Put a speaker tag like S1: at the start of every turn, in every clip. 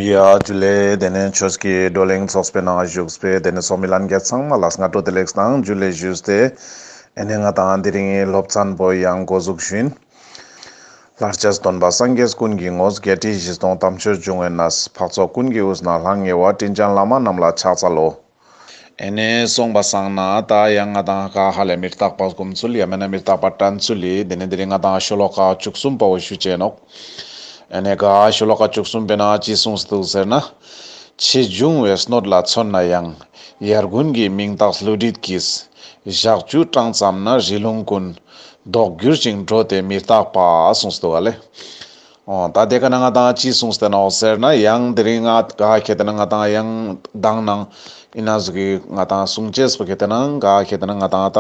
S1: ཡཱ། དེ་ལས་དེ་ནས་ཁྱོད་ཀྱིས་བགྲོ་གླེང་ཚོགས་པའི་ནང་བཞུགས་པའི་དེ་ནས་སོག་མི་ལན་རྒྱ་ཚང་མ་ལ་སྔ་དྲོ་བདེ་ལེགས་དང་རྒྱུད་ལས་བཞུགས་ཏེ། དེ་ནས་ང་དང་དེ་རིང་སློབ་ཚན་པོ་ཡང་འགོ་འཛུགས་ཤིང། ལྷར་བཅས་སུ་སྟོན་པ་སངས་རྒྱས་ཀུན་གྱི་ངོ་བརྒྱད་ཁྲི་བཞི་སྟོང་དམ་ཆོས་འབྱུང་བའི་ན་བཟའ་འཕགས་ཚོགས་ཀུན་གྱི་དབུས་ན་ལྷང་ངེ་བ་སྤྲིན་ལྗང་ལ་མ་རྣམས་ལ་ཕྱག་འཚལ་ལོ། ཨེ་ནས་གསུངས་པ་བསམ་ན་ད་ཡང་ང་དང་ཨ་ཁ་ཧ་ལས་མི་རྟག་པ་སྒོམ་ཚུལ་ཡང་མེད་ན་མི་རྟག་པ་དྲན་ཚུལ་ལས་དེ་ནས་འདི་རིང་ང་དང་ཤོ་ལོ་ཀ་བཅུ་གསུམ་པ་འོ་ཞུ་བྱས་ནོག་ཨེ་ནས་ག་ཤོ་ལོ་ཀ་བཅུ་གསུམ་པས་ན་ཅི་གསུངས་འདུག་ཟེར་ན། ཆེས་བྱུང་བའི་སྣོད་ལ་མཚོན་ན་ཡང་ཡར་དགུན་གྱི་མིང་བཏགས་ཀླུ་བྲིད་ཀྱིས་ཞག་བཅུ་གྲངས་ཙམ་ན་རི་ལུང་ཀུན། ལྡོག་གྱུར་ཅིང་འགྲོ་དེ་མི་རྟག་པ་གསུངས་འདུག་ག་ལས། ད་དེ་ག་ན་ང་དང་ཅི་གསུངས་ཟེར་ནའོ་ཟེར་ན་ཡང་དེ་རིང་ང་ག་གལ་ཏེ་ན་ང་དང་ཡང་གདངས་ན་ཨི་ན་ཟུག་གི་ང་དང་གསུངས་ཅེས་པ་གལ་ཏེ་ན་ང་ག་གལ་ཏེ་ན་ང་དང་ད་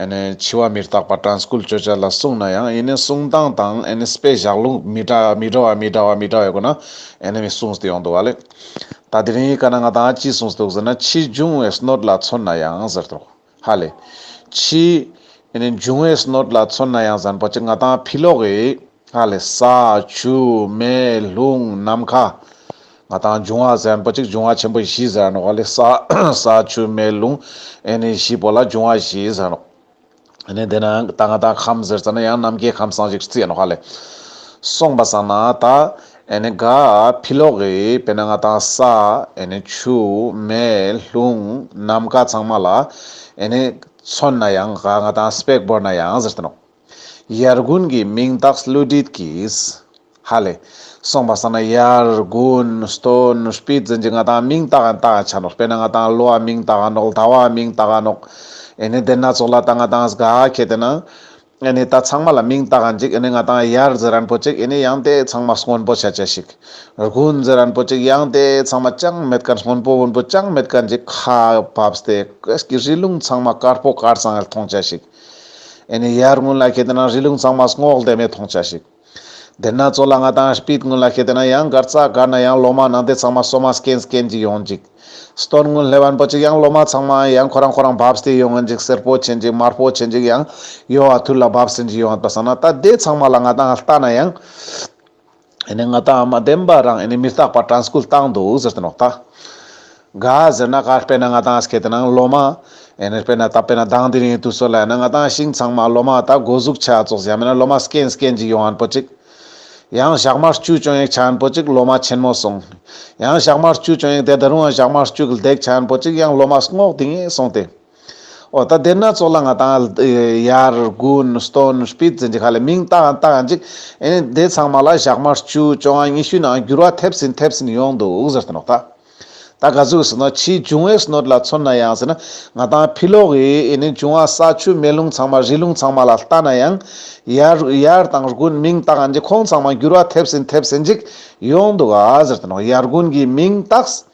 S1: ཨེ་ནས་འཆི་བ་མི་རྟག་པ Transcool བརྗོད་བྱ་ལ་གསུངས་ན་ཡང་ཨི་ནས་གསུངས་སྟངས་དང་ཨེ་ནས་པའི་བཞག་ལུང་མི་འདྲ་མི་འདྲ་བ་མི་འདྲ་བ་མི་འདྲ་བ་ཡོད་དགོས་ན་ཨེ་ནས་མི་གསུངས་ཏེ་ཡོང་འདུག་བ་ལས། ད་དེ་རིང་ག་ན་ང་དང་ཅི་གསུངས་འདུག་ཟེར་ན་ཕྱིས་འབྱུང་བའི་སྣོད་ལ་མཚོན་ན་ཡང་ཟེར་དོ། ཧ་ལས། ཕྱིས། འབྱུང་བའི་སྣོད་ལ་མཚོན་ན་ཡང་ཟན་པོ་ཆེ་ལྔ་དང་ཕི་ལོག་གི། ཧ་ལས། ས། ཆུ། མེ། རླུང། ནམ་མཁའ། ལྔ་དང་འབྱུང་བ་ཟན་པོ་གཅིག་འབྱུང་བ་ཆེན་པོ་བཞི་ཟེར་རོ། ཧ་ལས། ས། ས། ཆུ། མེ། རླུང། བཞི་པོ་ལ་འབྱུང་བ་བཞི་ཟེར་རོ། དེ་ནང་ད་ང་དང་ཁམས་ཟེར་ཙམ་ན་ཡང་ནམ་མཁའི་ཁམས་སངས་རྒྱས་ཀྱི་རྩིས་ཡིན་ནོ། ཧ་ལས། གསུངས་པ་བསམ་ན་ད། ཨེ་ནི་ག་ཕི་ལོག་གི་དཔེ་ན་ང་དང་ས་ཨེ་ནི་ཆུ་མེ་ལྷུང་ནམ་མཁའ་ཚང་མ་ལ་ཨེ་ནི་མཚོན་ན་ཡང་ག་ང་དང་སྤེགས་བོར་ན་ཡང་ཟེར་ཏེ་ནོ། ཡར་དགུན་གྱི་མིང་བཏགས་བསླུ་བྲིད་ཀྱིས། ཧ་ལས། སོང་བ་ས་ན་ཡར་དགུན་སྟོན་སྤིད་རྫིན་གྱི་ང་དང་མིང་བཏགས་ཨེ་ནི་བཏགས་ཡང་ཆ་ནོག་དཔེ་ན་ང་དང་ལོ་བ་མིང་བཏགས་ཨ་ནོག་ཟླ་བ་མིང་བཏགས་ཨ་ནོག་ཨེ་ནི་དེ་སྣ་ཚོགས་ལ་ད་ང་དང་ག་ཁྱེད་དེ་ན་ཨེ་ནི་ད་ཚང་མ་ལ་མིང་བཏགས་འཇིག་ཨེ་ནི་ང་དང་ཡར་རྫི་རན་པོ་ཅིག་ཨེ་ནི་ཡང་དེ་ཚང་མ་སྔོན་པོ་ཆ་ཆ་ཞིག། རྒུ་རྫི་རན་པོ་ཅིག་ཡང་དེ་ཚང་མ་ཅང་མེད་ག་སྔོན་པོ་བོན་པོ་ཅང་མེད་ག་འཇིག་ཁ་བབས་ཏེ་ཀོས་ཀྱི་རི་ལུང་ཚང་མ་དཀར་པོ་དཀར་གཙང་ཨེ་ལ་མཐོང་ཆ་ཞིག། ཨེ་ནི་ཡར་སྔོན་ལ་ཁེ་དེ་ན་རི་ལུང་ཚང་མ་སྔོག་བདེ་མེད་མཐོང་ཆ་ཞིག། དེར་ན་ཚོ་ལ་ང་དང་སྤིད་དངུལ་ལ་ཤེས་དེ་ན་ཡང་སྒར་རྩ་སྒར་ན་ཡང་ལོ་མ་ནང་དེ་ཚང་མ་སོ་མ་སྐན་སྐན་གྱི་ཡོང་འཇིག། སྟོན་དངུལ་ལྷེ་བན་པོ་ཅིག་ཡང་ལོ་མ་ཚང་མ་ཡང་ཁོ་རང་ཁོ་རང་བབས་སྟེ་ཡོང་འཇིག་སེར་པོ་ཆེ་འཇིག་དམར་པོ་ཆེ་འཇིག་ཡང་ཡོང་བ་དུས་ལ་བབས་ཟིན་གྱི་ཡོང་བ་བསམ་ན་ད་དེ་ཚང་མ་ལ་ང་དང་ལྟ་ན་ཡང། ཨེ་ནས་ང་དང་མ་བདེན་པ་རང་ཨེ་ནས་མི་རྟག་པ་དྲན་སྐུལ་བཏང་འདུག་ཟེར་ཏེ་ནོག་ཐ། ག་ཟེར་ན་ག་དཔེར་ན་ང་དང་ཁྱེད་རྣམས་སློབ་མ། ཨེ་དཔེར་ན་ད་དཔེར་ན་དང་དེ་རིང་དུས་ཚོད་ལ་ཡིན་ན་ང་དང་ཤིང་ཚང་མ་སློབ་མ་ད་སྒོ་གཟུགས་ཆ་བཙོག་བཞག་མེད་ན་སློབ་མ་སྐེན་སྐེན་གཅིག་ཡོང་ཨན་པོ་ཅིག། ཡང་ཞག་མར་སྐྱུག་བྱུང་ཡག་ཆ་ཨན་པོ་ཅིག་སློབ་མ་ཆེན་མོ་སོང། ཡང་ཞག་མར་སྐྱུག་བྱུང་ཡག་དེ་ད་རུང་ཨ་ཞག་མར་སྐྱུག་ལྡེག་ཆ་ཨན་པོ་ཅིག་ཡང་སློབ་མ་སྔོག་དེ་ངས་སོང་སྟེ། ཨོ་ད་དེ་སྣ་ཚོགས་ལ་ང་དང་ཡར་དགུན་སྟོན་སྤིད་ཟིན་གྱི་ཁ་ལས་མིང་བཏགས་ཨན་བཏགས་ཨན་ཅིག་ཨེ་ནས་དེ་ཚང་མ་ལ་ཞག་མར་སྐྱུག་བྱུང་ཨ་ཉི་ཤུ་ནའང་འགྱུར་བ་ཐེབས་ཟིན་ཐེབས་ཟིན་ཡོང་འདུག་ཟེར་ཏེ་ནོག་ད། ད་ག་ཟུག་ཟེར་ན་ཕྱིའི་འབྱུང་བའི་ཟས་ནོར་ལ་མཚོན་ན་ཡང་ཟེར་ན་ང་དང་ཕི་ལོག་གི་ཨེ་ནི་འབྱུང་བ་ས་ཆུ་མེ་རླུང་ཚང་མ་རི་ཀླུང་ཚང་མ་ལ་ལྟ་ན་ཡང་ཡར་དང་དགུན་མིང་བཏགས་ཨ་འདི་ཁོང་ཚང་མ་འགྱུར་བ་ཐེབས་ཟིན་ཐེབས་ཟིན་ཅིག་ཡོང་འདུག་ཨ་ཟེར་དུ་ནོག་ཡར་དགུན་གྱི་མིང་བཏགས།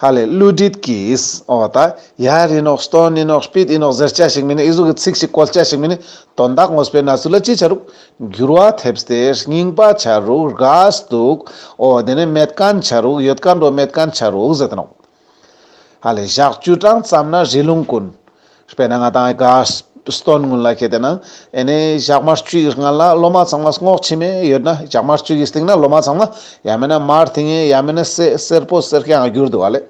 S1: ཧ་ལས་བསླུ་བྲིད་ཀྱིས་ཨོ་ད་ཡར་ཨེ་ནོག་སྟོན་ཨེ་ནོག་སྤིད་ཨེ་ནོག་ཟེར་བྱ་ཞིག་མིན་ཨེ་ཟུག་གི་ཚིག་ཞིག་བཀོལ་བྱ་ཞིག་མིན་དོན་དག་ངོ་སྤེལ་ན་ཚུལ་ལ་ཅི་བྱ་རུག་འགྱུར་བ་ཐེབས་ཏེ་རྙིང་པ་བྱ་རུག་རྒས་འདུག་ཨོ་དེ་ནས་མེད་ཀན་བྱ་རུག་ཡོད་ཀ་འགྲོ་མེད་ཀན་བྱ་རུག་ཟེར་ནོ། ཧ་ལས་བཞག་བཅུ་གྲངས་ཙམ་ན་རི་ལུང་ཀུན། དཔེར་ན་ང་དང་རྒས་སྟོན་སྔོན་ལ་ཁྱེད་དེ་ན་ཨེ་ནས་ཞག་མ་བཅུ་ཡི་སྔ་ལ་སློབ་མ་ཚང་མ་སྔོག་ཕྱི་མས་ཡོད་ན་ཞག་མ་བཅུ་ཡི་སྟེང་ན་སློབ་མ་ཚང་མ་ཡ་མེད་ན་མར་དེ་ངས་ཡ་མེད་ན་སེར་པོ་སེར་སྐྱ་ཡང་བསྒྱུར་འདུག་ཨ་ལས།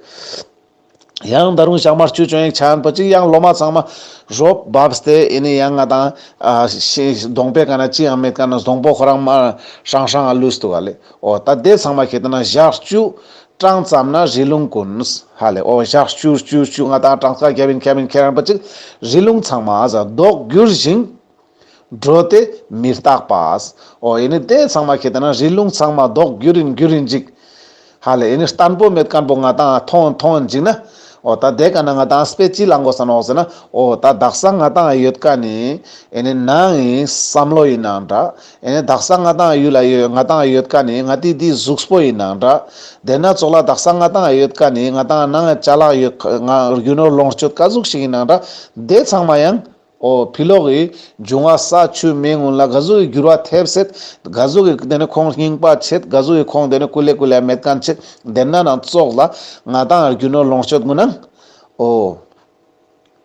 S1: ཡང་ད་རུང་ཞག་མ་བཅུ་བྱོན་ཡིག་ཆ་ཡན་པོ་གཅིག་ཡང་སློབ་མ་ཚང་མ་རོ་བབས་ཏེ་ཨེ་ནི་ཡང་ང་དང། གདོང་པའི་སྐ་ན་ཅི་ཡང་མེད་སྐ་ན་བཟང་པོ་ཁོ་རང་མ། ཧྲང་ཧྲང་ཨ་ལུས་འདུག་ཨ་ལས་ཨོ་ད་ལྟའི་ཚང་མ་ཁྱེད་དང་ན་ཞག་བཅུ། གྲངས་ཙམ་ན་རི་ལུང་ཀུན། ཧ་ལས་ཨོ་ཞག་བཅུ་བཅུ་བཅུ་ང་དང་གྲངས་ཀ་རྒྱབ་ཡིན་ཁྱབ་ཡིན་ཁྱེད་རང་པ་གཅིག། རི་ལུང་ཚང་མ་ཨ་ཟ་ཟློག་བསྒྱུར་ཞིང། འགྲོ་སྟེ་མི་རྟག་པ། ཨོ་ཨེ་ནི་དེ་ཚང་མ་ཁྱེད་ལྟ་ན་རི་ལུང་ཚང་མ་ལྡོག་རྒྱུ་རིན་རྒྱུ་རིན་འཇིག། ཧ་ལས་ཨེ་ནི་ལྟར་འབོ་མེད་དཀར་འབོ་ང་དང་ཐོང་ཨ་ཐོང་ཨ་འཇིག་ན། ཨོ་ད་དེ་ག་ན་ང་དང་སྤེ་ཅི་ལ་འགོ་ས་ནོག་ཟེར་ན་ཨོ་ད་བདག་ས་ང་དང་ཨ་ཡོད་ག་ནི། ཨེ་ནི་ན་ཨི་བསམ་བློ་ཡི་ན་འདྲ། ཨེ་ནི་བདག་ས་ང་དང་ཨ་ཡུལ་ཨ་ཡོད་ང་དང་ཨ་ཡོད་ག་ནི་ང་དེ་དེའི་གཟུགས་སྤོ་ཡི་ན་འདྲ། དེ་ན་ཙོག་ལ་བདག་ས་ང་དང་ཨ་ཡོད་ག་ནི་ང་དང་ཨ་ནང་ཨ་ཅག་ལག་ཡོད་ག་ང་རྒྱུ་ནོར་ལོངས་སྤྱོད་ག་གཟུགས་ཤིག་ཡི་ན་འདྲ། དེ་ཚང་མ་ཡང། ཨོ་བྷི་ལོག་གི་འབྱུང་བ་ས་ཆུ་མེའི་སྔོན་ལ་དགའ་གཟུགས་ཀྱི་འགྱུར་བ་ཐེབས་སྲིད། དགའ་གཟུགས་ཀྱི་དེ་ནི་ཁོང་སྙིང་པ་བྱེད། དགའ་གཟུགས་ཀྱི་ཁོང་དེ་ནི་སྐུ་ལས་སྐུ་ལས་མེད་གང་ཆེད་འདེབས་ན་ནང་བཙོག་ལ། ང་དང་ཡར་རྒྱུ་ནོར་ལོངས་སྤྱོད་དགུ་སྣང། ཨོ།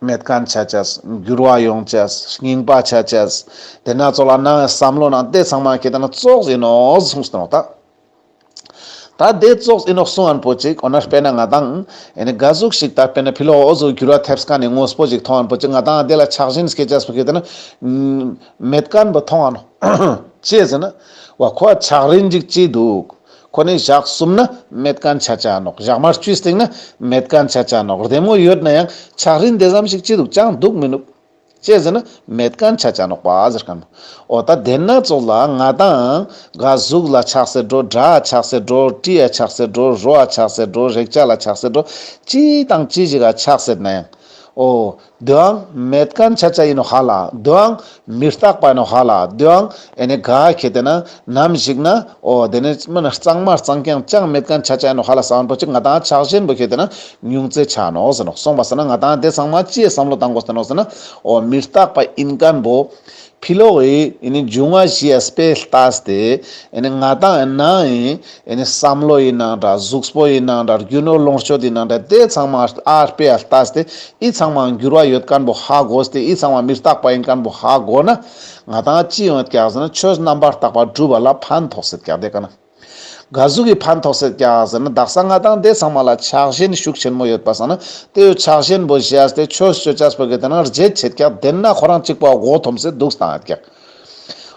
S1: མེད་གང་བྱ་བྱས། འགྱུར་བ་ཡོང་བྱས། སྙིང་པ་བྱ་བྱས། དེ་སྣ་ཚོགས་ལ་སྣང་བའི་བསམ་བློ་ནང་བལྟས་ཚང་མ་ཁྱེད་དེ་ནི་བཙོག་བྱས་ནོ་གཟུགས་སུ་སྣང་བ་དག། ད་ལྟའི་ཙོག་ཨི་ནོག་སུ་ཨན་པོ་ཅིག་འོ་ན་དཔེ་ན་ང་དང། ཨེ་ནི་དགའ་གཟུགས་ཤིག་ད་དཔེ་ན་ཕི་ལོ་ཨོ་ཟོ་གུ་ར་ཐེབས་ས་ཁ་ནས་ངོ་སྤོ་ཅིག་ཐོང་ཨན་པོ་ཅིག་ང་དང་ཨ་དེ་ལ་ཆགས་ཞེན་སྐད་ཆ་སུ་ཁེ་ད་ན། མེད་དཀའ་ཨན་པོ་ཐོང་ཨ་ནོ། ཅེས་ཟེར་ན། བ་ཁོ་ཨ་ཆགས་རིན་ཅིག་ཅི་འདུག། ཁོ་ནི་ཞག་གསུམ་ན་མེད་དཀའ་ཨན་ཆ་ཆ་ཨ་ནོག་ཞག་མ་བཅུས་སྟེང་ན་མེད་དཀའ་ཨན་ཆ་ཆ་ཨ་ནོག་རེ་མོ་ཡོད་ན་ཡང་ཆགས་རིན་དེ་ཙམ་ཞིག་ཅི་འདུག་ཅང་འདུག་མི་འདུག། ཅེས་ཟེར་ན་མེད་གང་ཆ་ཅང་ནོག་པ་ཟེར་གམ། ཨོ་ད་དེ་སྣ་ཚོགས་ལ་ང་དང། ག་གཟུགས་ལ་ཆགས་སེ་འགྲོ་སྒྲ་ཆགས་སེ་འགྲོ་དྲི་ཡ་ཆགས་སེ་འགྲོ་རོ་ཨ་ཆགས་སེ་འགྲོ་རེག་བྱ་ལ་ཆགས་སེ་འགྲོ། ཅི་དང་ཅི་ཞིག་ཨ་ཆགས་སེ་ན་ཡང། ཨོ། དེའང་མེད་གང་ཆ་ཅང་ཡིན་ནོ་ཧ་ལ་དེའང། མི་རྟག་པ་ཡིན་ནོ་ཧ་ལ་དེའང། ཨེ་ནི་ག་ཁྱེད་དེ་ན་ནམ་ཞིག་ན་ཨོ་དེ་ནི་མི་ནི་གཙང་མ་གཙང་ཀྱང་ཅང་མེད་ཀན་ཆ་ཅན་ནོ་ཧ་ལ་སང་འགྲོ་ཅིག་ང་དང་ཆགས་ཞེན་པོ་ཁྱེད་དེ་ན་ཉུང་ཙེ་ཆགས་ནོ་ཟེར་ནོ་སོང་བ་ཟེར་ན་ང་དང་དེ་ཚང་མ་ཅིའི་བསམ་བློ་བཏང་གོ་ཟེར་ནོ་ཟེར་ན་ཨོ་མི་རྟག་པ་ཨིན་ཀན་པོ། ཕི་ལོག་ཨི་ཨེ་ནི་འབྱུང་བ་བཞི་ཨེ་སྤེ་ལྟས་དེ་ཨེ་ནི་ང་དང་ཨེ་ནང་ཨི་ཨེ་ནི་བསམ་བློ་ཨི་ནང་འདྲ་གཟུགས་པོ་ཨི་ནང་འདྲ་རྒྱུ་ནོར་ལོངས་སྤྱོད་ཨི་ནང་འདྲ་དེ་ཚང་མ་ཨ་སྤེ་ཨ་ལྟས་དེ་ཨི་ཚང་མའང་འགྱུར་བ་ཡོད་ཀན་པོ་ཧ་གོ་ཟེར་དེ་ཨི་ཚང་མ་མི་རྟག་པ་ཨིན་ཀན་པོ་ཧ་གོ་ན། ང་དང་ཅི་ཡོང་བཀྱག་ཟེར་ན་ཆོས་རྣམ་པར་བརྟགས་པ་སྒྲུབ་པ་ལ་ཕན་ཐོགས་སེར་བཀྱག་འདེད་ཀ་ན། དགའ་གཟུགས་ཀྱི་ཕན་ཐོགས་སེར་བཀྱག་ཟེར་ན་བདག་གསང་སྔགས་དང་སྡེ་ཚང་མ་ལ་ཕྱག་ཞེན་ཤུགས་ཆེན་མོ་ཡོད་པ་བསམ་ན་ལྟོས་ཡོད་ཕྱག་ཞེན་པོ་བཞེས་ཨ་སྟེ་ཆོས་སྤྱོད་བཅའ་སྤོད་ཀྱི་སྟེང་ན་རྗེས་བྱེད་བཀྱག་འདེད་ན་ཁོ་རང་གཅིག་པོ་མགོ་འཐོམ་སེར་འདུག་སྟངས་ཨ་བཀྱག་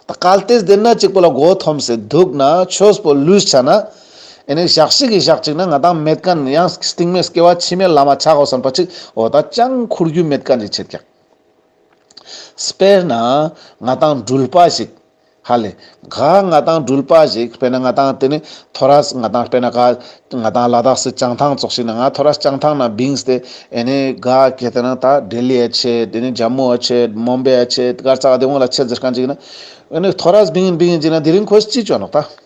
S1: ད་ག་ལ་ཏེས་འདེད་ན་གཅིག་པོ་ལ་མགོ་འཐོམ་སེར་འདུག་ན་ཆོས་སྤོད་ལུས་བྱ་ན། ཨེ་ནས་བཞག་ཤིག་གི་བཞག་ཅིག་ན་ང་དང་མེད་ཀ་ན་ཡང་སྟིང་མེད་སྐྱེ་བ་ཕྱི་མའི་བླ་མ་ཆག་གོ་བསམ་པ་ཅིག་འོ་ད་ཅང་འཁུར་རྒྱུ་མེད་ཀ་འདྲི་བྱེད་བཀྱག། དཔེར་ན། ང་དང་སྦྲུལ་པ་ཞིག། ཧ་ལས། ག་ང་དང་སྦྲུལ་པ་ཞིག་དཔེར་ན་ང་དང་དེ་ནི་ཐོ་ར་སི་ང་དང་དཔེར་ན་ག་ང་དང་ལ་དྭགས་སི་བྱང་ཐང་ཙོག་ཞིག་ན་ང་ཐོ་ར་སི་བྱང་ཐང་ན་བིང་སྟེ་ཨེ་ནི་ག་གེ་དེ་ན་ད་ལྡི་ལི་ཨ་ཆེ་དེ་ནི་ཇཱ་མུ་ཨ་ཆེ་མོམ་བེ་ཨ་ཆེ་དཀར་ཙག་ཨ་དེ་འོང་ལ་ཆེ་ཛི་ཀན་ཅིག་ན་ཨེ་ནི་ཐོ་ར་སི་བིང་ཨིན་བིང་ཨིན་ཅིག་ན་དེ་རིང་ཁོས་ཅི་བྱོ་ནོག་ད།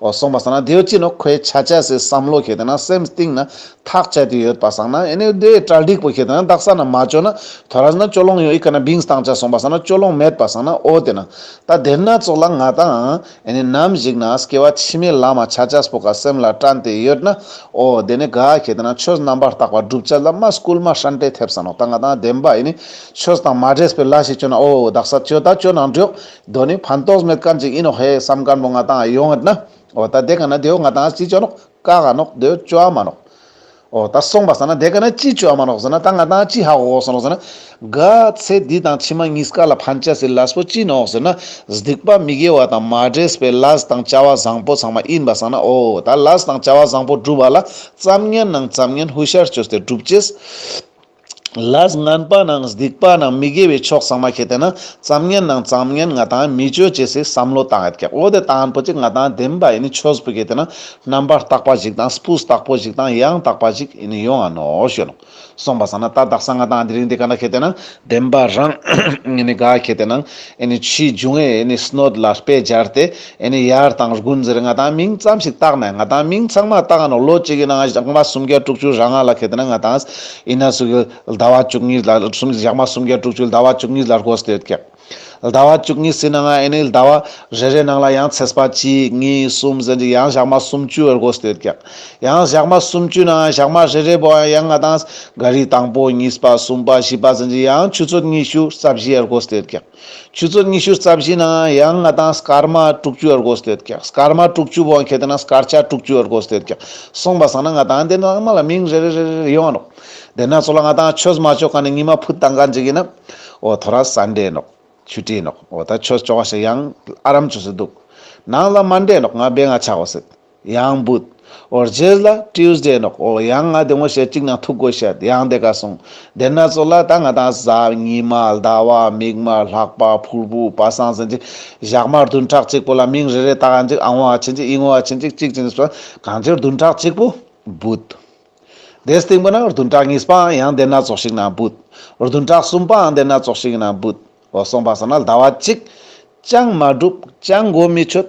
S1: ཨོ་སོང་བ་ཟེར་ན་དེའོ་ཅི་ནོ་ཁོའི་ཆ་བྱད་ཟེར་བསམ་བློ་ཞེ་དེ་ན་སེམས་གཏིང་ན་ཐག་བཅད་དེ་ཡོད་པ་བསམ་ན་ཨེ་ནས་དེའི་གྲལ་འགྲིག་པོ་ཞེ་དེ་ན་བདག་ས་ན་མ་བཅོས་ན་དོ་ར་ཟེར་ན་ཅོ་ལོང་ཡོད་ཨི་ཁ་ན་བིང་སྟང་བྱ་སོང་བ་ཟེར་ན་ཅོ་ལོང་མེད་པ་བསམ་ན་ཨོ་དེ་ན་ད་དེར་ན་ཚོགས་ལ་ང་དང་ཨེ་ནས་ནམ་ཞིག་ན་སྐྱེ་བ་ཕྱི་མའི་ལ་མ་ཆ་བྱས་པོ་ག་སེམས་ལ་དྲན་དེ་ཡོད་ན་ཨོ་དེ་ནས་ག་ཞེ་དེ་ན་ཆོས་རྣམ་པར་དག་པ་བསྒྲུབ་བྱ་ལ་མ་སྐུལ་མ་ཧྲན་ཏེ་ཐེབས་ས་ནོ་ད་ང་དང་ལྡན་པ་ཨེ་ནས་ཆོས་དང་མ་འདྲེས་པའི་ལ་ཞེས་བཅོས་ན་ཨོ་བདག་ས་བཅོས་ད་བཅོས་ན་འགྲོགས་གདོད་ནས་ཕན་ཐོགས་མེད་གང་ཅིག་ཡིན་ནོ་ཧེ་བསམ་སྐམ་པོ་ང་དང་ཨ་ཡོང་ངེར་ན། འོ་ད་དེ་ག་ན་དེའོ་ང་དང་ཨ་ཅི་བྱོ་ནོག་ཀ་ག་ནོག་དེའོ་བྱོ་ཨ་མ་ནོག། འོ་ད་སོང་པ་ཟ་ན་དེ་ག་ན་ཅི་བྱོ་ཨ་མ་ནོག་ཟེར་ན་ད་ང་དང་ཨ་ཅི་ཧ་གོ་ཟེར་ནོག་ཟེར་ན། ག་ཚེ་འདི་དང་ཕྱི་མ་གཉིས་ཀ་ལ་ཕན་བྱ་སྲིད་ལ་སྤོ་ཅི་ནོག་ཟེར་ན། སྡིག་པ་མི་དགེ་བ་དང་མ་བྲེས་པའི་ལ་ཟ་དང་བྱ་བ་བཟང་པོ་ཚང་མ་ཡིན་པ་ཟ་ན་འོ་ད་ལ་ཟ་དང་བྱ་བ་བཟང་པོ་བསྒྲུབ་པ་ལ་བརྩམ་ངན་ནང་བརྩམ་ངན་ཧུ་ཤར་བཅོས་ཏེ་བསྒྲུབ་བྱེད། ལ། ངན་པ་དང་སྡིག་པ་དང་མི་དགེ་བའི་ཕྱོགས་ཚང་མ་ཁྱེད་དེ་ན་བཙམ་ངན་དང་བརྩམ་ངན་ང་དང་མི་སྤྱོད་ཅེས་སའི་བསམ་བློ་དང་ཡར་ཀྱག་འོ་དེ་དང་པོ་གཅིག་ང་དང་བདེན་པ་ཡིན་ནི་ཆོས་པོ་ཁྱེད་དེ་ན་རྣམ་པར་དག་པ་ཞིག་དང་སྤུས་དག་པོ་ཞིག་དང་ཡང་དག་པ་ཞིག་ཡིན་ནི་ཡོང་ཨ་ནོ་ཞོལ་ནོ། གསུངས་པ་ས་ན་ད་དག་ས་ང་དང་འདི་རིང་འདི་ག་ན་ཁྱེད་དེ་ན་བདེན་པ་རང་ཡིན་ནི་ག་ཁྱེད་དེ་ན་ཕྱིས་འབྱུང་ཨེ་ཡིན་ནི་སྣོད་ལ་དཔེ་སྦྱར་ཏེ། ཨེ་ནི་ཡར་དང་དགུན་དེར་ང་དང་མིང་ཙམ་ཞིག་བཏགས་ནས་ང་དང་མིང་ཚང་མ་བཏགས་ནོ་ལོ་གཅིག་གི་ནང་ཞག་མ་སུམ་བརྒྱ་དྲུག་ཅུ་རང་ང་ལ་ཁེལ་དེ་ན་ང་དང་ཨི་ན་སུ་གི་ཟླ་བ་བཅུ་གཉིས་ལ་སུམ་ཞག་མ་སུམ་བརྒྱ་དྲུག་ཅུ་ཟླ་བ་བཅུ་གཉིས་ལ་རྒོ་སི་ཏོད་ཀྱི་ཟླ་བ་བཅུ་གཉིས་སི་ན་ང་ཨེ་ནི་ཟླ་བ་རེ་རེ་ནང་ལ་ཡང་ཚེས་པ་གཅིག་གཉིས་གསུམ་ཟེར་གྱི་ཡང་ཞག་མ་སུམ་བཅུ་རྒོ་སི་ཏོད་ཀྱི་ཡང་ཞག་མ་སུམ་བཅུ་ནང་ང་ཞག་མ་རེ་རེ་བོ་ཡང་ང་དང་ག་རི་དང་པོ་གཉིས་པ་གསུམ་པ་བཞི་པ་ཟེར་གྱི་ཡང་ཆུ་ཚོད་ཉི་ཤུ་རྩ་བཞི་རྒོ་སི་ཏོད་ཀྱི། ཆུ་ཚོད་ཉི་ཤུ་རྩ་བཞི་ནང་ཡང་ང་དང་སྐར་མ་དྲུག་ཅུ་ཨར་གོས་དེད་ཀྱང་སྐར་མ་དྲུག་ཅུ་བོང་ཁེ་དེ་ན་སྐར་ཆ་དྲུག་ཅུ་ཨར་གོས་དེད་ཀྱང་སོང་པ་བསམ་ན་ང་དང་དེ་ནང་ཚང་མ་ལ་མིང་རེ་རེ་རེ་རེ་ཡོང་རོགས། དེ་ནང་ཚོ་ལ་ང་དང་ཆོས་མ་ཆོས་གང་ནས་ཉི་མ་ཕུད་དང་ག་འཇིག་ཡིན་ན། འོ་ཐོ་ར་ས་འདྲེས་ནོག། ཆུ་དྲེས་ནོག་འོ་ད་ཆོས་ཆོག་བ་ཞིག་ཡང་ཨ་རམ་ཆོས་སུ་འདུག། ནང་ལ་མ་འདྲེས་ནོག་ང་སྦེ་ང་ཆག་བ་སྲིད། ཡང་བུད། འོར་རྗེས་ལ Tuesday ནོག་གོ་ཡང་ང་དེ་ངོ་ཤེས་གཅིག་ན་ཐུག་གོ་ཤེས་ཡང་དེ་ག་སོང་དེ་ན་ཚོ་ལ་ད་ང་དང་གཟའ་ཉི་མ་ཟླ་བ་མིག་དམར་ལྷག་པ་ཕུར་བུ་པ་སངས་ཟིན་ཅིག་བཞག་མར་བདུན་ཕྲག་གཅིག་པོ་ལ་མིང་རེ་རེ་བཏགས་ཅིག་ཨང་བ་བྱིན་ཅིག་དབྱིངས་བ་བྱིན་ཅིག་གཅིག་བྱིན་ཟོ་གང་ཅིར་བདུན་ཕྲག་གཅིག་པོ་བུད། དེ་སྟེང་པོ་ན་བདུན་ཕྲག་གཉིས་པའང་ཡང་དེ་ན་ཚོགས་ཤིག་ན་བུད། བདུན་ཕྲག་གསུམ་པའང་དེ་ན་ཚོགས་ཤིག་ན་བུད། འོ་སོང་པ་ཟེར་ན་ཟླ་བ་གཅིག་ཅང་མ་འགྲུབ་ཅང་མགོ་མི་ཆོད།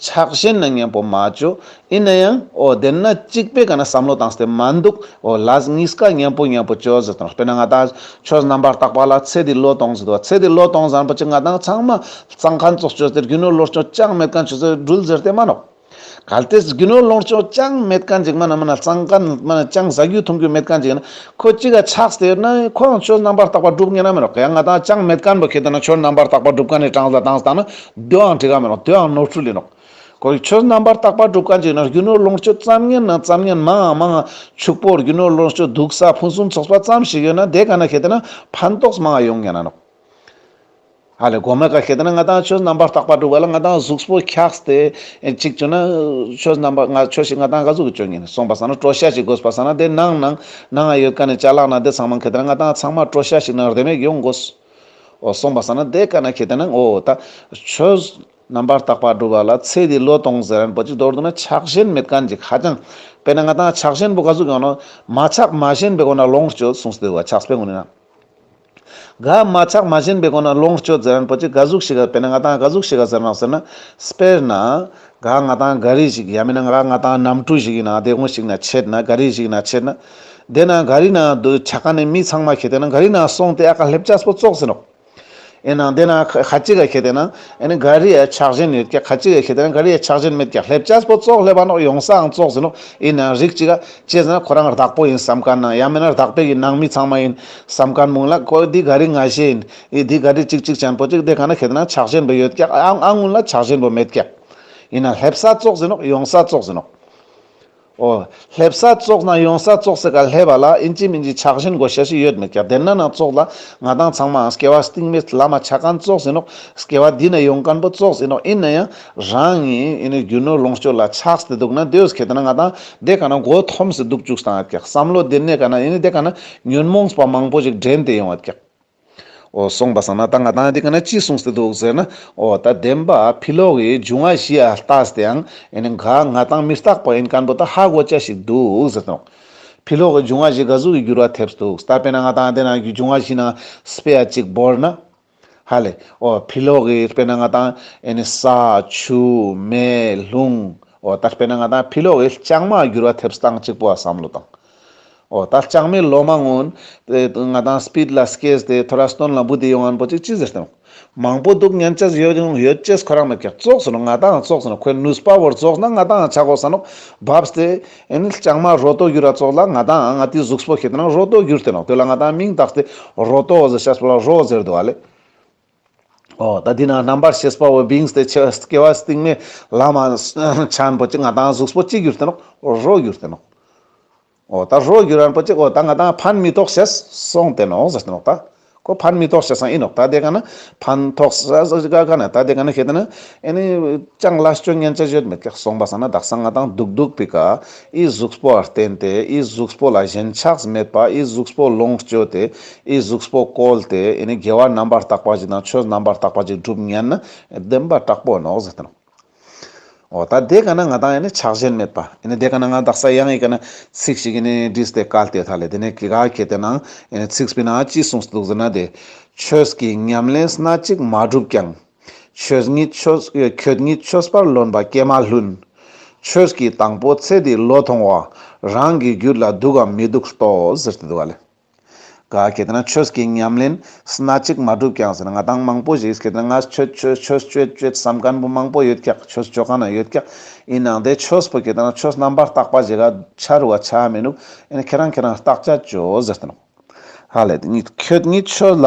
S1: ཕྱག་བཞེས་ན་ངན་པོ་མ་བྱོ། ཡིན་ན་ཡང། དེར་ན་གཅིག་པས་ག་ན་བསམ་བློ་དང་སྟེ་མ་འདུག། ལཱས་ངིས་ཀ་ངན་པོ་ངན་པོ་བྱོས་ཟེར་དོན་དཔེར་ན་ང་དང། ཁྱོད་རྣམ་པར་བརྟག་པ་ལ་ཚེ་འདི་བློས་གཏོང་ཟེར་དུས་ཚེ་འདི་བློས་གཏོང་བཟང་པོ་ཅི་ང་དང་ཚང་མ། གཙང་ཁ་མཆོག་ཁྱོད་ཚེ་རྒྱུ་ནོར་བློར་ཆོག་ཅང་མེད་ག་ཁྱོད་ཚེ་སྦྲུལ་ཟེར་དེ་མ་ནོར། གལ་ཏེ་རྒྱུ་ནོར་བློར་ཆོག་ཅང་མེད་ག་འཇིག་མ་ན་མ་ན་གཙང་ཁ་མ་ན་ཅང་ཟ་རྒྱུ་འཐུང་རྒྱུ་མེད་ག་འཇིག་ན། ཁོ་གཅིག་ག་ཆགས་སྟེ་ཡོད་ན་ཁོའང་ཁྱོད་རྣམ་པར་བརྟག་པ་སྒྲུབ་ངེས་ན་མི་རོགས་ག་ཡང་ང་དང་ཅང་མེད་ག་འབོད་མཁན་དེ་ན་ཁྱོད་རྣམ་པར་བརྟག་པ་སྒྲུབ་ག་ནས་གྲངས་ཟ་གྲངས་ཟ་དང་ན། བདུད་འང་བྲི་ག་མི་ནོག་བདུད་འང་ནོར་འཁྲུལ་ལས་ནོག། གོ་རིག་ཆོས་རྣམ་པར་བརྟག་པ་སྒྲུབ་གང་ཅི་ན་རྒྱུ་ནོར་ལོངས་སྤྱོད་བརྩམ་ངན་ན་བརྩམ་ངན་མང་འང་མང་འང་ཕྱུག་པོ་རྒྱུ་ནོར་ལོངས་སྤྱོད་སྡུག་བསགས་ཕུན་སུམ་ཚོགས་པ་ཙམ་ཞིག་ཡོད་ན་དེ་ག་ན་གྷལ་དེ་ན་ཕན་ཐོགས་མང་འང་ཡོང་ངན་ན་ནོག། ཨ་ལས་གོ་མེད་ག་གྷལ་དེ་ན་ང་དང་ཆོས་རྣམ་པར་བརྟག་པ་སྒྲུབ་ག་ལ་ང་དང་གཟུགས་པོ་འཁྱགས་ཏེ་ཅིག་བྱུང་ན། ཆོས་རྣམ་པ་ང་ཆོས་ཤིག་ང་དང་ག་གཟུགས་ཀྱི་སྤྱོད་ངན་སོང་པ་སང་ན་བྲོ་ཤ་ཞིག་དགོས་པ་སང་ན་དེ་ནང་ནང་ནང་འང་ཡོད་ག་ནས་བྱ་ལག་ན་དེ་ཚང་མ་གྷལ་དེ་ན་ང་དང་ཚང་མ་བྲོ་ཤ་ཞིག་ནང་རེ་མེད་ཡོང་དགོས། གསུངས་པ་ས་ན་དེ་ཀ་ན་ཁྱེད་ལྟ་ན་ངོ་བོ་དང། ཆོས། རྣམ་པར་དག་པར་སྒྲུབ་པ་ལ་ཚེ་འདི་ལོ་སྟོང་ཟེར་རན་པོ་ཅིག་མདོར་བསྡུ་ན་ཆགས་ཞེན་མེད་གང་ཅིག་ཧ་ཅང། དཔེར་ན་ང་དང་ཆགས་ཞེན་པོ་ག་ཟུག་ཡོང་ན། མ་ཆགས་མ་ཞེན་པའི་སྒོ་ན་ལོངས་སྤྱོད་གསུངས་སུ་དེ་བས་ཆགས་པའི་ངོ་ནས་ན། ག་མ་ཆགས་མ་ཞེན་པའི་སྒོ་ན་ལོངས་སྤྱོད་ཟེར་རན་པོ་ཅིག་ག་ཟུག་ཤི་ག་དཔེར་ན་ང་དང་ག་ཟུག་ཤི་ག་ཟེར་ན་ཟེར་ན། དཔེར་ན། ག་ང་དང་ག་རེ་ཞིག་ཡང་མིན་ན་ག་ང་དང་གནམ་གྲུ་ཞིག་ཡིན་ན་དེ་སྔོན་ཞིག་ན་ཆད་ན་ག་རེ་ཞིག་ན་ཆད་ན། དེ་ན་ག་རི་ན་འདུག་བྱ་ག་ནི་མི་ཚང་མ་ཁྱེད་དེ་ན་ག་རི་ན་སོང་སྟེ་ཨ་ཁ་ལྷེབ་ཅག་སྤོ་བཙོག་ཟིན་རོགས། ཨེ་ན་དེ་ན་ག་ཅི་ག་ཁྱེད་དེ་ན་ཨེ་ནི་ག་རི་ཡའི་ཆགས་ཞེན་ཡོད་ཀྱ་ག་ཅི་ག་ཁྱེད་དེ་ན་ག་རི་ཡའི་ཆགས་ཞེན་མེད་ཀྱ་ལྷེབ་ཅག་སྤོ་བཙོག་ལྷེབ་ཨ་ནོག་ཡོང་ས་ཨང་བཙོག་ཟིན་རོགས་ཨེ་ན་རིག་ཅི་ག་བྱས་ཟིན་ན་ཁོ་རང་རྡག་པོ་ཡིན་བསམ་ག་ན་ཡང་མེད་ན་རྡག་པའི་ཡིན་ནང་མི་ཚང་མ་ཡིན་བསམ་ག་ན་མུང་ལ་ཁོ་འདི་ག་རི་ང་ཞེས་ཡིན་ཨི་འདི་ག་རི་ཅིག་ཅིག་ཅན་པོ་ཅིག་དེ་ག་ན་ཁྱེད་དེ་ན་ཆགས་ཞེན་པོ་ཡོད་ཀྱ་ཨ་ཨ་ངུ་ལ་ཆགས་ཞེན་པོ་མེད་ཀྱ་ཨེ་ན་ལྷེབ་ས་བཙོག་ཟིན་རོགས་ཡོང་ས་བཙོག་ཟིན་རོགས། ཨོ། སླེབས་ས་བཙོག་ན་ཡོང་ས་བཙོག་ཟེར་ག་ལྷད་པ་ལ་ཨིན་ཅི་མིན་ཅི་ཆགས་བཞིན་དགོ་ཤ་ཞིག་ཡོད་མེད་ཀྱང་བདེན་ན་ནང་བཙོག་ལ་ང་དང་ཚང་མའང་སྐྱེ་བ་སྟིང་མེད་བླ་མ་ཆ་གང་བཙོག་ཟིན་རོགས་སྐྱེ་བ་འདི་ནས་ཡོང་གང་པོ་བཙོག་ཟིན་རོགས་ཨིན་ན་ཡང་རང་ཉིད་ཨིན་ནི་རྒྱུ་ནོར་ལོངས་སྤྱོད་ལ་ཆགས་ཏེ་འདུག་ན་འདོད་ཟེར་ཁྱེད་ན་ང་དང་འདས་ག་ན་མགོ་འཐོམས་སེ་འདུག་བཅུག་ས་ཨ་ཀྱག་བསམ་བློ་བདེ་གནས་ག་ན་ཨིན་ནི་འདས་ག་ན་ཉོན་མོངས་པ་མང་པོ་ཞིག་འདྲེན་ཏེ་ཡོང་ཨ་ཀྱག། ཨོ་གསུངས་པ་བསམ་ན་ད་ང་དང་འདི་ག་ན་ཅི་གསུངས་ཟེར་འདུག་ཟེར་ན། ཨོ་ད་བདེན་པ་ཕི་ལོག་གི་འཇུ་ང་བཞི་ཨ་རྟགས་དེའང་ཨེ་ནི་འགའ་ང་དང་མི་རྟག་པ་ཡིན་སྐམ་པོ་ད་ཧ་གོ་ཅའ་ཞིག་འདུག་ཟེར་དོགས། ཕི་ལོག་གི་འཇུ་ང་བཞི་འགའ་གཟུགས་ཀྱི་འགྱུར་བ་ཐེབས་སུ་འདུག་ད་དཔེར་ན་ང་དང་འདི་ནང་གི་འཇུ་ང་བཞི་ནང་སྤེ་ཡ་གཅིག་བོར་ན། ཧ་ལས། ཨོ་ཕི་ལོག་གི་དཔེར་ན་ང་དང་ཨེ་ནི་ས། ཆུ། མེ། ལྷུང། ཨོ་ད་དཔེར་ན་ང་དང་ཕི་ལོག་གི་ལྕང་མ་འགྱུར་བ་ཐེབས་སྟངས་གཅིག་པོ་ཨ་བསམ་བློ་བཏང། ཨོ་ད་ཅག་མི་ལོ་མ་སྔོན། ང་དང་སྤིད་ལ་སྐེས་དེ་ཐོ་ར་སྟོན་ལ་འབུ་དེ་ཡོང་བར་འབོ་ཅིག་ཅི་ཟེར་དང། མང་པོ་འདུག་མཉན་ཆས་ཡོད་རུང་ཡོད་ཅེས་ཁོ་རང་མེད་ཀྱང་བཙོག་ཟེར་ནོ་ང་དང་བཙོག་ཟེར་ནོ་ཁོས་ནུས་པ་བོར་བཙོག་ན་ང་དང་ཆག་གོ་ཟེར་ནོ། བབས་ཏེ། ཨེ་ནི་ལྕང་མ་རོ་ཏོ་གུར་ར་བཙོག་ལ་ང་དང་ང་དེའི་གཟུགས་སྤོ་ཤེས་དེ་རང་རོ་ཏོ་གུར་དེ་ནོ་དེ་ལ་ང་དང་མིང་བཏགས་ཏེ་རོ་ཏོ་ཟེར་ཤ་སྤོ་ལ་རོ་ཟེར་དུ་བ་ལེ། ཨོ་ད་འདི་ན་རྣམ་པར་ཤེས་པ་བའི་བིང་སྟེ་ཆོས་སྐྱེ་བ་སྟེང་མའི་ལམ་མ་བྱན་པོ་ཅི་ང་དང་གཟུགས་པོ་གཅིག་གྱུར་ཏེ་ནོ། རོ་གྱུར་ཏེ་ནོ། ཨོ་ད་རོ་གྱུར་རན་པོ་ཅི་ཨོ་ད་ང་དང་ཕན་མི་ཐོགས་ཞེས་གསུངས་ཏེ་ནོ་ཟེར་ཏེ་ནོ། ད་གོ་ཕན་མི་ཐོགས་ཞེས་སང་ཨེ་ནོ་ད་དེ་ག་ན་ཕན་ཐོགས་ས་ས་ག་ག་ན་ད་དེ་ག་ན་ཤེས་ཏེ་ན་ཨེ་ནི། ཅང་ལ་སྐྱོན་ངན་ཅི་བརྗོད་མི་ཀྱེ་གསུངས་པ་སང་ན་བདག་སང་ང་དང་སྡུག་སྡུག་པའི་ག། ཨི་གཟུགས་པོ་ལ་བརྟེན་ཏེ་ཨི་གཟུགས་པོ་ལ་ཞེན་ཆགས་མེད་པ་ཨི་གཟུགས་པོ་ལོངས་སྤྱོད་དེ་ཨི་གཟུགས་པོ་བཀོལ་ཏེ་ཨི་ནི་དགེ་བ་རྣམ་པར་དག་པ་ཞིག་དང་ཆོས་རྣམ་པར་དག་པ་ཅིག་བསྒྲུབ་ངེས་ན་བདེན་པ་དྲག་པོ་ནོ་ཟེར་ཏེ། འོ་ད་དེ་ག་ན་ང་དང་ཨི་ནི་ཆགས་ཞེན་མེད་པ་ཨི་ནི་དེ་ག་ན་ང་དག་ས་ཡང་ཨི་ག་ན་ཚིག་ཞིག་ཨི་ནི་འདྲི་སྟེ་བཀའ་སྟེ་ད་ལས་དེ་ནས་གི་ག་གི་དེ་ན་ཨི་ནི་ཚིག་སྤི་ན་ཅི་གསུངས་སུ་འདུག་ཟེར་ན་དེ། ཆོས་ཀྱི་ཉམས་ལེན་སྣ་གཅིག་མ་བསྒྲུབས་ཀྱང། ཆོས་ཉིད་ཆོས་ཁྱོད་ཉིད་ཆོས་པར་ལོན་པ་ཀྱེ་མ་ལྷུན། ཆོས་ཀྱི་དང་པོ་ཚེ་འདི་བློ་མཐོང་བ། རང་གི་རྒྱུད་ལ་སྡུག་གམ་མི་སྡུག་ཟློས་ཟེར་དུ་འདུག་ག་ལ། ག་གྱེས་ན་ཆོས་ཀྱི་ཉམས་ལེན་སྣ་གཅིག་མ་བསྒྲུབས་ཀྱང་ཟེར་ན་ང་དང་མང་པོ་ཞིག་གྱེས་ན་ང་ཆོས་ཆོས་ཆོས་སྤྱོད་སྤྱོད་བསམ་སྐམ་པོ་མང་པོ་ཡོད་ཀྱང་ཆོས་སྤྱོད་གང་ན་ཡོད་ཀྱང་ཡིན་ནང་དེ་ཆོས་པོ་གྱེས་ན་ཆོས་རྣམ་པར་བརྟག་པ་བྱེད་ག་ཆ་རུ་བ་ཆ་མི་ནུག་ཨེ་ན་ཁྱེད་རང་ཁྱེད་རང་བརྟག་བྱ་སྤྱོད་ཟེར་དུ་འདུག་ག་ལ། ཁྱོད་ཉིད་ཆོས་ལ་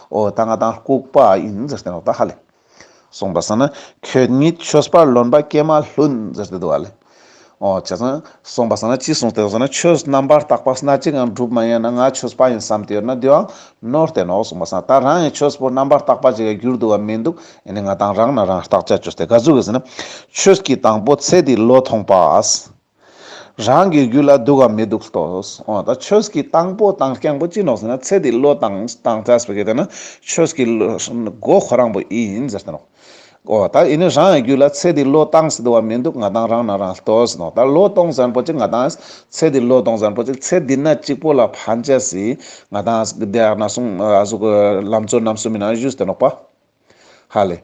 S1: ཨོ་ད་ང་དང་ལྐུགས་པ་ཡིན་ཟེར་ཏེ་རོགས་ད་ཧ་ལས་སོང་པར་ས་ན་ཁྱོད་ཉིད་ཆོས་པར་ལོན་པ་སྐད་མ་ལྷུན་ཟེར་ཏེ་འདུག་ཨ་ལས་ཨོ་བྱས་ཙང་སོང་པར་ས་ན་ཅི་གསུངས་ཏེ་ཟེར་ན་ཆོས་རྣམ་པར་དག་པ་སྣ་གཅིག་ངང་གྲུབ་མ་ཡིན་ན་ང་ཆོས་པ་ཡིན་བསམ་གྱི་ཡོད་ན་དུའང་ནོར་བསྟན་ནོ་གསུངས་པར་ས་ན་ད་རང་ཡང་ཆོས་པོ་རྣམ་པར་དག་པ་ཅིག་ཡང་གྱུར་འདུག་བ་མི་འདུག་ཨེ་ནས་ང་དང་རང་ནས་རང་བརྟག་དཔྱད་བྱོས་ཏེ་ག་ཟུག་གིས་ཟེར་ན་ཆོས་ཀྱི་དང་པོ་ཚེ་འདི་བློས་ཐོངས་པ། རང་གི་རྒྱུད་ལ་སྡུག་གམ་མི་སྡུག་ལྟོས། འོ་ད་ཁྱོད་ཀྱིས་དང་པོ་དང་རྐྱང་པོ་ཅི་ནོག་ཟེར་ན་ཚེ་འདི་བློས་བཏང་བཏང་བྱས་པའི་གལ་ཏེ་ན་ཁྱོད་ཀྱི་མགོ་ཁོ་རང་པོ་ཡིན་ཟེར་ཏེ་ནོག། འོ་ད་ཡིན་ནི་རང་གི་རྒྱུད་ལ་ཚེ་འདི་བློས་བཏང་སྡུག་བ་མི་འདུག་ང་དང་རང་ན་རང་ལྟོས་ནོག་ད་བློས་གཏོང་ཟེར་པོ་ཅིག་ང་དང་ཚེ་འདི་བློས་གཏོང་ཟེར་པོ་ཅིག་ཚེ་འདི་ན་གཅིག་པོ་ལ་ཕན་ཆད་སྲིད་ང་དང་བདེ་ན་སྲུང་གཟུགས་ལམ་ཚོད་རྣམས་སུ་མི་སྣང་གཞུ་ཟེར་ཏེ་ནོག་པ། ཧ་ལས།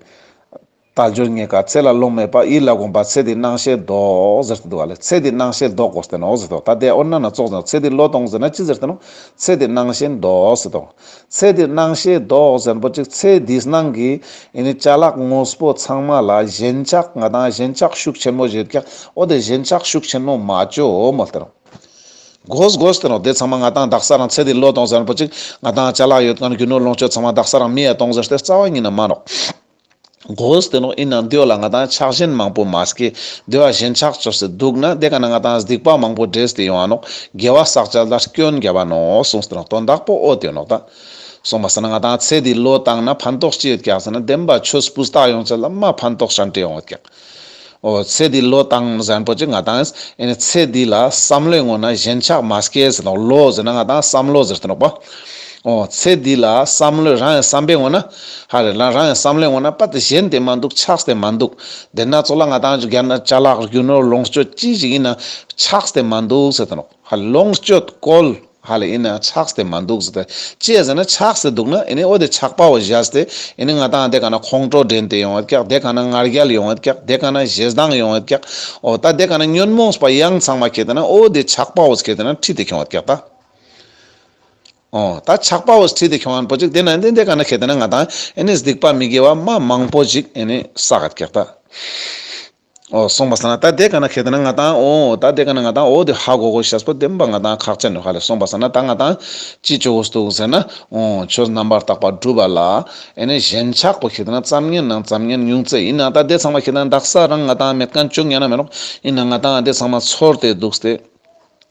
S1: རྟ་མཆོད་གཉིས་ཀ་ཚེ་ལ་རླུང་མེད་པ་ཡིད་ལ་དགོངས་པ་ཚེ་འདི་སྣང་ཤེལ་བཟློག་ཟེར་གྱི་འདུག་ཨ་ལས་ཚེ་འདི་སྣང་ཤེལ་བཟློག་གོ་ཟེར་ཏེ་འོག་ཟེར་ཏོ་ད་ལྟའི་ཨོ་ན་ན་ཙོག་ཟེར་ན་ཚེ་འདི་བློས་གཏོང་ཟེར་ན་ཅི་ཟེར་ཏེ་ནོ། ཚེ་འདི་སྣང་ཤེལ་བཟློག་ཟེར་ཏོ། ཚེ་འདི་སྣང་ཤེལ་བཟློག་ཟེར་པོ་ཅིག་ཚེ་འདི་སྣང་གི། ཡིན་ནི་བྱ་གླག་དངོས་པོ་ཚང་མ་ལ་ཞེན་ཆགས་ང་དང་ཞེན་ཆགས་ཤུགས་ཆེན་མོ་བཞེད་ཀྱང་ཨོ་དེ་ཞེན་ཆགས་ཤུགས་ཆེན་མོ་མ་བཅོས་འོ་མོ་ཟེར་ཏེ་ནོ། གོ་ཟེར་ཏེ་ནོ་དེ་ཚང་མ་ང་དང་བདག་ས་རང་ཚེ་འདི་བློས་གཏོང་ཟེར་པོ་ཅིག་ང་དང་བྱ་གླག་ཡོད་དཀའ་ནི་རྒྱུ་ནོར་ལོངས་སྤྱོད་ཚང་མ་བདག་ས་རང་མི་ཡ་གཏོང་ཟེར་ཏེ་རྩ་བ་ཉིད་ན་མ་རོགས། གོས་དེ་ནོག་ཨིན་ན་འདོད་ལ་ང་དང་ཆགས་ཞེན་མང་པོ་མ་ཟེ་གི་འདོད་བ་ཞེན་ཆགས་བཅོ་ཟེ་འདུག་ན་དེ་ག་ན་ང་དང་གཟིགས་པ་མང་པོ་འདྲེས་དེ་ཡོང་བ་ནོག་རྒྱལ་བ་བསགས་བྱ་ལ་སྐྱོན་རྒྱལ་བ་ནོག་གསུངས་དེ་ནོག་དོན་དག་པོ་ཨོ་དེ་ནོག་ད་གསུངས་པ་ཟེ་ན་ང་དང་ཚེ་འདི་ལོ་བཏང་ན་ཕན་ཐོགས་ཅི་ཡོད་ཀྱང་ཟེ་ན་བདེན་པ་ཆོས་སྤུས་དག་ཡོང་བྱ་ལ་མ་ཕན་ཐོགས་ཤ་འདྲེ་ཡོང་བ་ཀྱང་ཨོ། ཚེ་འདི་ལོ་དང་གཟན་པོ་ཅི་ང་དང། ཚེ་འདི་ལ་བསམ་བློའི་ངོ་ན་གཞན་ཆགས་མ་སྐྱེས་ཟེར་དང། ལོ་ཟེར་ན་ང་དང་བསམ་བློ་ཟེར་དུ་འགྲོགས་པ། ཨོ། ཚེ་འདི་ལ་བསམ་བློའི་རང་ཡང་བསམ་པའི་ངོ་ན། ཧ་རེ། རང་ཡང་བསམ་བློའི་ངོ་ན་པ་དེ་གཞན་དེ་མ་འདུག་ཆགས་དེ་མ་འདུག། དེ་སྣ་ཚོགས་ལ་ང་དང་བརྒྱ་ན་བྱ་ལག་རྒྱུ་ནོར་ལོངས་སྤྱོད་ཅི་ཞིག་ཡིན་ན། ཆགས་དེ་མ་འདུག་ཟེར་དུ་འགྲོགས། ཧ་ལོངས་སྤྱོད་བཀོལ་ཧ་ལས་ཨིན་ཆགས་སྟེ་མ་འདུག་ཟེར་ཅེས་ཟེར་ན་ཆགས་སྟེ་འདུག་ན་ཨིན་འོ་དེ་ཆགས་པའོ་བཞགས་ཏེ་ཨིན་ང་ད་དེ་ག་ན་ཁོང་ཁྲོ་འདྲེན་དེ་ཡོང་བས་ཀྱག་དེ་ག་ན་ངར་རྒྱལ་ཡོང་བས་ཀྱག་དེ་ག་ན་ཞེ་སྡང་ཡོང་བས་ཀྱག་འོ་ད་དེ་ག་ན་ཉོན་མོངས་པ་ཡང་ཚང་མ་ཁེལ་ཏེ་ན་འོ་དེ་ཆགས་པའོ་ཁེལ་ཏེ་ན་ཁྲིད་དེ་ཁྱོང་བས་ཀྱག་ད་འོ་ད་ཆགས་པའོ་ཁྲིད་དེ་ཁྱོང་བས་པོ་ཅིག་དེ་ན་ཨིན་དེ་ག་ན་ཁེལ་ཏེ་ན་ང་ད་ཨིན་སྡིག་པ་མི་དགེ་བ་མ་མང་པོ་ཅིག་ཨིན་བསགས་ཀྱག་ད། ཨོ་སོང་པ་ས་ན་ད་དེ་ག་ན་གྷེ་ད་ན་ང་ཏང་ཨོ་ཨོ་ད་དེ་ག་ན་ང་ཏང་ཨོ་དེ་ཧ་གོ་གོ་ཤ་སྤོ་དེམ་པ་ང་ཏང་ཁག་ཅ་ནུ་ཧ་ལེ་སོང་པ་ས་ན་ད་ང་ཏང་ཅི་ཅོ་གོ་ས་ཏུག་ཟེར་ན་ཨོ་ཆོས་རྣམ་པར་དག་པ་སྒྲུབ་པ་ལ་ཨེ་ནས་གཞན་ཆགས་པོ་གྷེ་ད་ན་བརྩམ་ངན་ནང་བརྩམ་ངན་ཉུང་ཙེ་ཡིན་ན་ད་དེ་ཚང་མ་གྷེ་ད་ན་འདག་ས་རང་ང་ཏང་མེད་གང་བྱུང་ཡང་ན་མེད་རོགས་ཡིན་ན་ང་ཏང་ཨ་དེ་ཚང་མ་ཚོར་ཏེ་འདུག་སྟེ།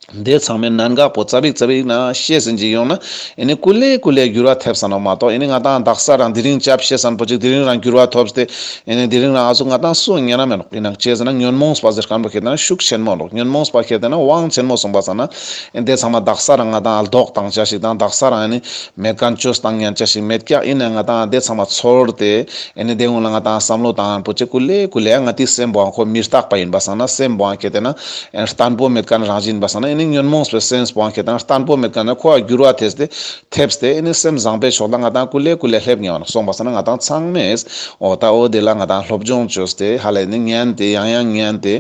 S1: འདས་ཚང་མའི་གནད་འགག་པོ་རྩ་བིག་རྩ་བིག་ན་བཤད་ཟིན་གྱི་ཡོང་ན་ཨེ་ནི་སྐུ་ལས་སྐུ་ལས་འགྱུར་བ་ཐེབས་ས་ན་མ་གཏོགས་ཨེ་ནི་ང་དང་བདག་ས་རང་དེ་རིང་སྐྱབས་བཤད་སམ་པོ་ཅིག་དེ་རིང་རང་འགྱུར་བ་ཐོབ་སྟེ་ཨེ་ནི་དེ་རིང་རང་ཨ་ཟུག་ང་དང་སུ་ཉན་ན་མེད་ཡིན་ན་བྱས་ཟིན་ན་ཉོན་མོངས་པ་ཟེར་སྐམ་པོ་ཁྱེད་ལྟ་ན་ཤུགས་ཆེན་མོ་འགྲོ་ཉོན་མོངས་པ་ཁྱེད་ལྟ་ན་དབང་ཆེན་མོ་གསུངས་པ་ཙམ་ན་ཨེ་འདས་ཚང་མ་བདག་ས་རང་ང་དང་ཨ་ལྡོག་དང་ཅག་ཞིག་དང་བདག་ས་རང་ཨེ་ནི་མེད་དཀའ་མཆོད་དང་ཉན་ཅག་ཞིག་མེད་སྐྱ་ཨེ་ནི་ང་དང་ཨ་འདས་ཚང་མ་ཚོར་ཏེ་ཨེ་ནི་འདས་སྔོན་ལ་ང་དང་ཨ་བསམ་བློ་དང་པོ་ཅིག་སྐུ་ལས་སྐུ་ལས་ང་དེའི་སེམས་པོའང་ཁོ་མི་རྟག་པ་ཡིན་པ་སང་ན་སེམས་པོའང་ཁྱེད་ལྟ་ན། ཡང་བརྟན་པོ་མེད་ཀན་རང་བཞིན་པ་ས་ན་ནི་ཉོན་མོངས་པའི་སེམས་སྤངས་ཁེ་དང་བརྟན་པོ་མེད་ཀན་ནི་འཁོར་བར་འགྱུར་བ་དེས་ཏེ་ཐེབས་ཏེ་ནི་སེམས་བཟང་པའི་ཕྱོགས་ལ་ང་དང་ཀུན་ལས་ཀུན་ལས་ལྷད་ངེ་བ་ན་སོང་པ་ས་ན་ང་དང་ཚང་མས་འོ་ད་འོ་དེ་ལ་ང་དང་སློབ་སྦྱོང་བྱོས་ཏེ་ཧ་ལས་ནི་ཉན་ཏེ་ཡང་ཡང་ཉན་ཏེ་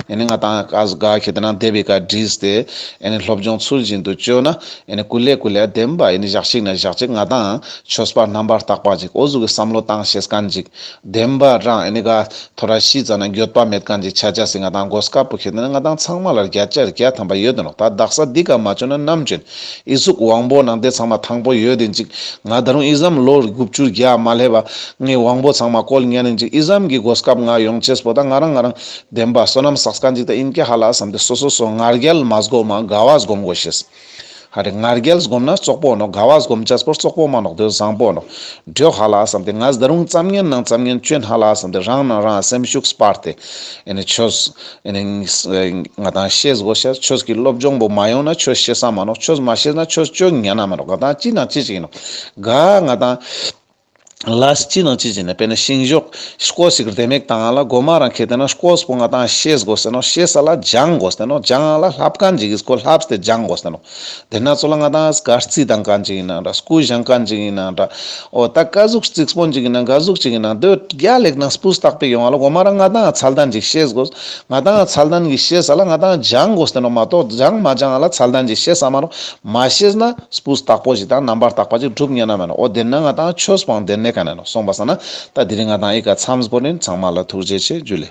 S1: ནི་ང་དང་ཀ་གཟུ་དགའ་ཁེ་དེ་ན་བདེ་བའི་བཀའ་དྲིས་ཏེ་ནི་སློབ་སྦྱོང་ཚུལ་བཞིན་དུ་བཅོས་ན་ནི་ཀུན་ལས་ཀུན་ལས་བདེན་པ་ནི་བཞག་ཅིག་ན་བཞག་ཅིག་ང་དང་ཆོས་པ་རྣམ་པར་དག་པ་ཅིག་འོ་གཟུགས་ཀྱི་བསམ་བློ་བཏང་ཞེས་ཀན་ཅིག་བདེན་པ་རང་ཨེ་ནི་ག། ཐོ་ར་ཤི་ཙ་ན་འགྱོད་པ་མེད་གང་ཅིག་ཆ་ཆ་སི་ང་དང་གོ་སྐ་པོ་ཁེ་ཏི་ན་ང་དང་ཚང་མ་ལར་བརྒྱ་ཆར་བརྒྱ་དམ་པ་ཡོད་དོ་ནོ་ད་བདག་ས་འདི་ག་མ་བྱོན་ན་ནམ་བྱོན། ཨི་གཟུགས་དབང་པོ་ནང་དེ་ཚང་མ་དང་པོ་ཡོད་དེ་འཇིག། ང་ད་རུང་ཨི་ཟམ་ལོ་དགུ་བཅུ་བརྒྱ་མ་སླེབ་བ། ངའི་དབང་པོ་ཚང་མ་བཀོལ་ཉན་ནི་འཇིག་ཨི་ཟམ་གི་གོ་སྐ་པོ་ང་ཡོང་ཆེས་པོ་ད་ང་རང་ང་རང། བདེན་པ་བསོད་ནམས་བསགས་ས་གང་ཅིག་ད་ཨིན་ཀ་ཧ་ལ་བསམ་དེ་སོ་སོ་སོ་ངར་རྒྱལ་མ་སྒོ་མ་དགའ་བ་སྒོམ་དགོ་ཤེས། ཧ་རེ་ངར་རྒྱལ་སྒོམ་ན་བཙོག་པོ་ནོ་དགའ་བ་སྒོམ་ལྕགས་ཚོར་བཙོག་པོ་མ་ནོག་དོན་བཟང་པོ་ནོ། འགྲོས་ཧ་ལ་བསམ་ཏེ་ང་ཟླ་རུང་བརྩམ་ངན་ནང་བརྩམ་ངན་སྤྱོད་སྣ་ལ་བསམ་ཏེ་རང་ནང་རང་སེམས་ཤུགས་སྤར་ཏེ། ཆོས། ང་དང་ཤེས་སྒོ་ཤར་ཆོས་ཀྱི་སློབ་སྦྱོང་པོ་མ་ཡོང་ན་ཆོས་ཤེས་ས་མ་ནོག་ཆོས་མ་ཤེས་ན་ཆོས་སྤྱོད་ངན་ན་མ་ནོག་དགའ་དང་ཅི་དང་ཅི་ཅིག་ཡིན་ནོ། དགའ། ང་དང། ལ་སྤྱི་ནང་སྤྱི་བྱས་ནས་དཔེར་ན་ཤིང་གཞོག་སྐོར་ཞིག་རྡེལ་མིག་དང་ལ་སྒོ་མ་རང་ཁེ་དེ་ན་སྐོར་སྤུ་ང་དང་ཤེས་དགོས་ཟེར་ནོ་ཤེས་ས་ལ་སྦྱང་དགོས་ཟེར་ནོ་སྦྱང་ང་ལ་ལྷ་བཀའ་འཇིགས་ཡིན་སྐོར་ལྷ་བསྟེ་སྦྱང་དགོས་ཟེར་ནོ་དེ་ན་ཚོ་ལ་ང་དང་སྐར་རྩིས་དང་བཀའ་འཇིགས་ཡིན་ན་འདྲ་སྐུ་བཞེངས་བཀའ་འཇིགས་ཡིན་ན་འདྲ་ཨོ་ད་བཀའ་གཟུགས་རྩིག་སྤོ་འཇིགས་ཡིན་ན་འགའ་གཟུགས་གཅིག་ཡིན་ན་འདོད་རྒྱ་ལེགས་དང་སྤུ་བཏགས་པའི་ཡོང་བ་ལ་སྒོ་མ་རང་ང་དང་ཚལ་དང་འཇིགས་ཤེས་དགོས་ང་དང་ཚལ་དང་གི་ཤེས་ས་ལ་ང་དང་སྦྱང་དགོས་ཟེར་ནོ་མ་གཏོགས་སྦྱང་མ་སྦྱང་ང་ལ་ཚལ་དང་འཇིགས་ཤེས་ས་མ་རུང་མ་ཤེས་ན། སྤུས་དག་པོ་ཞིག་དང་རྣམ་པར་དག་པ་ཅིག་བསྒྲུབ་ཉན་ན་མེད་ལ་འོ་བདེར་ན་ང་དང་ཆོས་སྤང་བདེར་གནས་ག་ནས་ནོ་གསུངས་པ་ས་ན་ད་འདིར་ང་དང་ཨི་ཀ་མཚམས་སྒོ་ནས་ཚང་མ་ལ་ཐུགས་རྗེ་ཆེ་བརྒྱུད་ལས།